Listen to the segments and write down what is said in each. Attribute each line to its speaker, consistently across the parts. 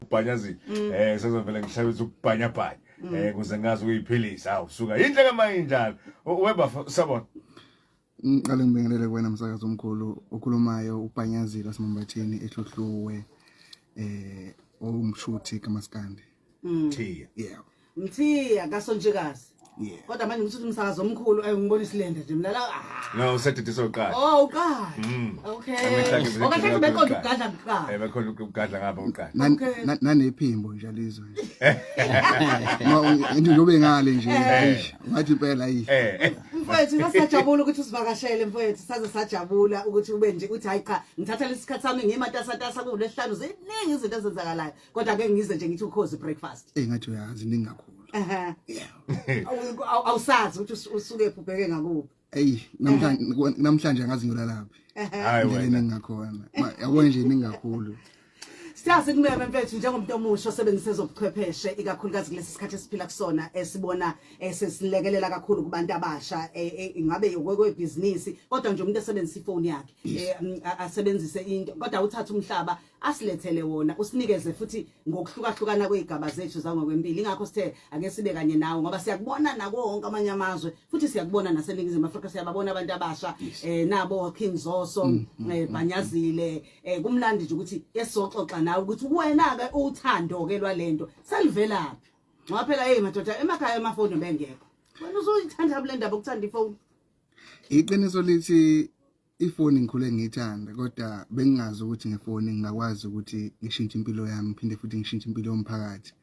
Speaker 1: ukubhanyazile mm. eh sezovela ngihlabisa ukubhanyabhanya mm. eh kuze ngazi ukuyiphilisa awu suka yinhle kama injalo weba sabona ngiqale
Speaker 2: ngibingelele kuwena msakazi omkhulu ukhulumayo ubhanyazile wasemambatheni ehluhluwe eh owumshuthi kamaskandi mm. thiya
Speaker 1: yeah
Speaker 2: Mthiya
Speaker 3: kasontshikazi. Yeah. Kodwa manje
Speaker 2: ngithuthi umsakazo
Speaker 3: omkhulu ayi ngibona isilenda nje mlala. Ah. No usedidisa
Speaker 1: uqala. Oh uqala. Mm.
Speaker 3: Okay. Okashe oh, bekhona ukugadla kuqala. Eh bekhona ukugadla ngapha
Speaker 1: uqala. Nanephimbo
Speaker 2: nje lizwe. Nje njobe ngale nje. Eh. Ngathi impela yi. Eh. Mfowethu
Speaker 3: ngasajabula ukuthi usivakashele mfowethu saze sajabula ukuthi ube nje uthi hayi cha ngithatha lesikhathi sami ngimatasatasa kulehlanu ziningi izinto ezenzakalayo. kodwa ke ngize nje ngithi ukhozi breakfast eh ngathi uyazi ningi
Speaker 2: kakhulu ehe yeah
Speaker 3: awusazi ukuthi usuke ubheke ngakuphi eyi namhlanje
Speaker 2: namhlanje angazi ngilalaphi hayi wena ningakhona yabo nje ningakhulu Siyazi
Speaker 3: kumele mfethu njengomuntu omusha osebenzisa ezobuchwepheshe ikakhulukazi kulesi sikhathi esiphila kusona esibona eh, esesilekelela kakhulu kubantu abasha eh, eh, ingabe yokwekwe business kodwa nje umuntu esebenzisa ifoni yakhe mm, asebenzise into kodwa uthatha umhlaba asilethele wona usinikeze futhi ngokuhlukahlukana kwezigaba zethu zangokwempilo ingakho sithe ake sibe kanye nawe ngoba siyakubona nako wonke amanye amazwe futhi siyakubona naseningizimu Afrika siyababona abantu abasha eh nabo King Zoso mm, mm, eh mm, Bhanyazile eh kumlandi nje ukuthi esoxoxa nawe ukuthi wena ke uthando ke lwalento salivelaphi ngoba phela hey madoda emakhaya emafoni bengekho wena uzoyithanda bulendaba ukuthanda ifoni iqiniso
Speaker 2: lithi ifoni ngikhule ngiyithanda kodwa bengingazi ukuthi ngefoni ngingakwazi ukuthi ngishintshe impilo yami phinde futhi ngishintshe impilo yomphakathi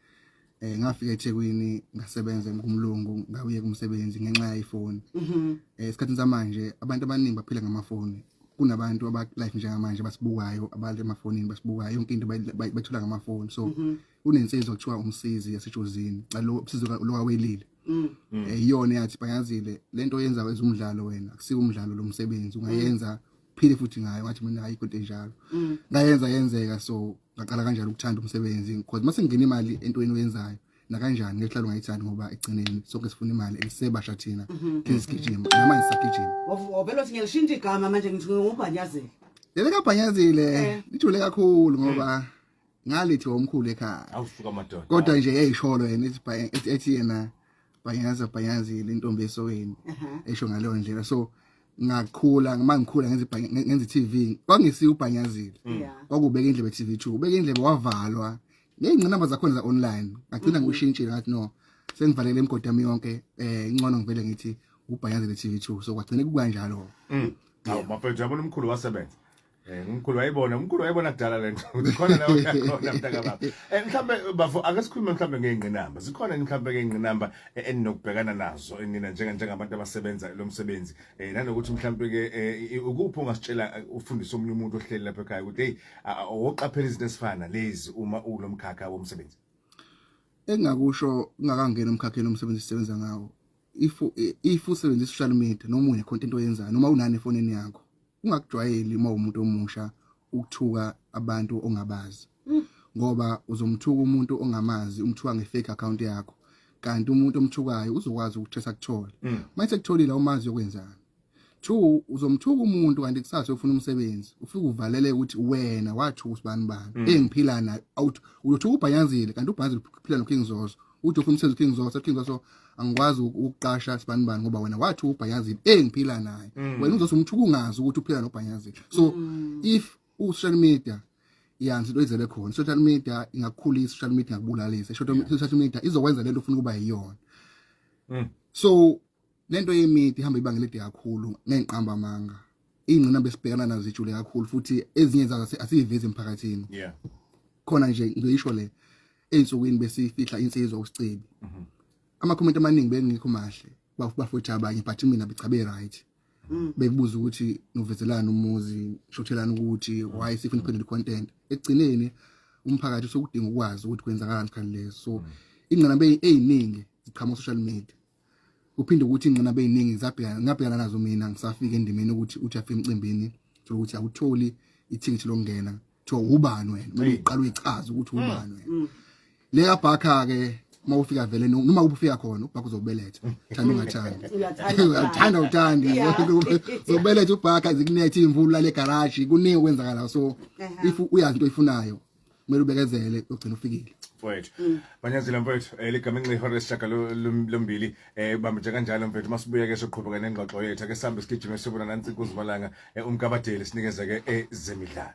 Speaker 2: eh ngafika eThekwini ngasebenza kumlungu ngabuye kumsebenzi ngenxa yefoni mhm. eh esikhathini samanje abantu abaningi baphila ngamafoni kunabantu aba life njengamanje basibukayo abantu emafonini basibukayo yonke into bayithola ngamafoni so mm -hmm. kunensizwa kuthiwa umsizi yasejozini calo usizo lokawelile mm. mm. eh, iyona yathi bangazile lento yenza kwezumdlalo wena akusike umdlalo lomsebenzi ungayenza mm. phile futhi ngayo ngathi mina hayi kodwa enjalo mm. ngayenza yenzeka so ngaqala kanjalo ukuthanda umsebenzi because mase ngingena imali entweni oyenzayo nakanjani ngehlalo ngayithandi ngoba egcineni sonke sifuna imali elisebasha thina mhm. thina sigijima namanje sagijima wavela uthi ngilishintsha igama manje ngithi
Speaker 3: ngubhanyazile lele kabhanyazile
Speaker 2: eh. ithule kakhulu ngoba ngalithi omkhulu ekhaya awusuka madoda kodwa
Speaker 1: nje yayisholo
Speaker 2: yena ethi ethi yena bhanyaza bhanyazile intombi esoweni esho ngaleyo ndlela so ngakhula uma ngikhula ngenze ngenze TV kwangisiya ubhanyazile mm. kwakubeka indlebe TV 2 ubeka indlebe wavalwa ngeyingcinamba zakhona za online ngagcina mm-hmm. ngishintshile ngathi no sengivalele imigodi yami yonke eh incono ngivele ngithi ubhanyazile TV 2 so kwagcina kukanjalo mm. Hawu
Speaker 1: bafethu yabona umkhulu wasebenza Eh umkhulu wayibona, umkhulu wayibona kudala lento. Ukhona la uyakhona mntaka baba. Eh mhlambe bafo ake sikhulume mhlambe ngeingqinamba. Zikhona mhlambe ngeingqinamba eh, eninokubhekana nazo enina njenga njengabantu abasebenza lo msebenzi. Eh nanokuthi mhlambe ke eh, ukuphi ungasitshela eh, ufundisa omunye umuntu ohleli lapha ekhaya ukuthi hey oqaphela izinto esifana lezi uma ulomkhakha womsebenzi.
Speaker 2: Engakusho ngakangena umkhakheni omsebenzi sisebenza ngawo. if if usebenzisa social media noma une content oyenzayo noma unani efonini yakho ungakujwayeli uma umuntu omusha ukuthuka abantu ongabazi mm. ngoba uzomthuka umuntu ongamazi umthuka ngefake account yakho kanti umuntu omthukayo uzokwazi ukuthi esakuthole mm. mase kutholile umazi yokwenzani two uzomthuka umuntu kanti kusasa ufuna umsebenzi ufike uvalele ukuthi wena wathuka usibani bani mm. engiphila naye out uyothuka ubhayanzile kanti ubhayanzile uphila noKing Zoso uthi ufuna umsebenzi uKing Zoso uKing Zoso angikwazi ukuqasha sibani bani ngoba wena wathuka ubhayanzile engiphila naye mm. wena uzothi umthuka ungazi ukuthi uphila nobhayanzile so mm. if u social media yanzi into izele khona social media ingakukhulisa social media ingakubulalisa social media izokwenza lento ufuna ukuba yiyona so Lento yemidi ihamba ibanga elide kakhulu ngenqamba amanga. Ingcina besibhekana nazo ijule kakhulu futhi ezinye zazo asiyivezi emphakathini. Yeah. Khona nje ngisho le ensukwini besifihla insizwa usicebi. Mhm. Ama comment amaningi bengikho mahle. Bafutha abanye but mina bechabe right. Mm. Bekubuza ukuthi novezelana umuzi, shothelana ukuthi why sifuna iphendule content. Ekugcineni umphakathi usukudinga ukwazi ukuthi kwenzakalani kanti leso. So mm. ingcina beyiningi ziqhamuka social media. uphinde ukuthi ingqina beyiningi ngisabhekana ngabhekana nazo mina ngisafika endimeni ukuthi uthi afike emcimbini thola ukuthi awutholi ithikithi lokungena kuthiwa ubani wena kumele uqale uyichaze ukuthi mm, ubani wena mm. le kabhakha ke uma ufika vele noma ubufika khona ubhakha uzobeletha thanda ungathandi uyathanda uthandi uzobeletha ubhakha zikunethe imvula le garage kuningi okwenzakala so if uyazi into oyifunayo kumele ubekezele ugcina ufikile mfowethu mm.
Speaker 1: manyazile mfowethu eh, ligama enxa ihora lesishaka lombili um eh, bambije kanjalo mfethu uma sibuye ke soqhubeka nengxoxo yethu ake sihambe sigijime sibona nansi kuzimalanga eh, umkabadeli sinikeze ke ezemidlalo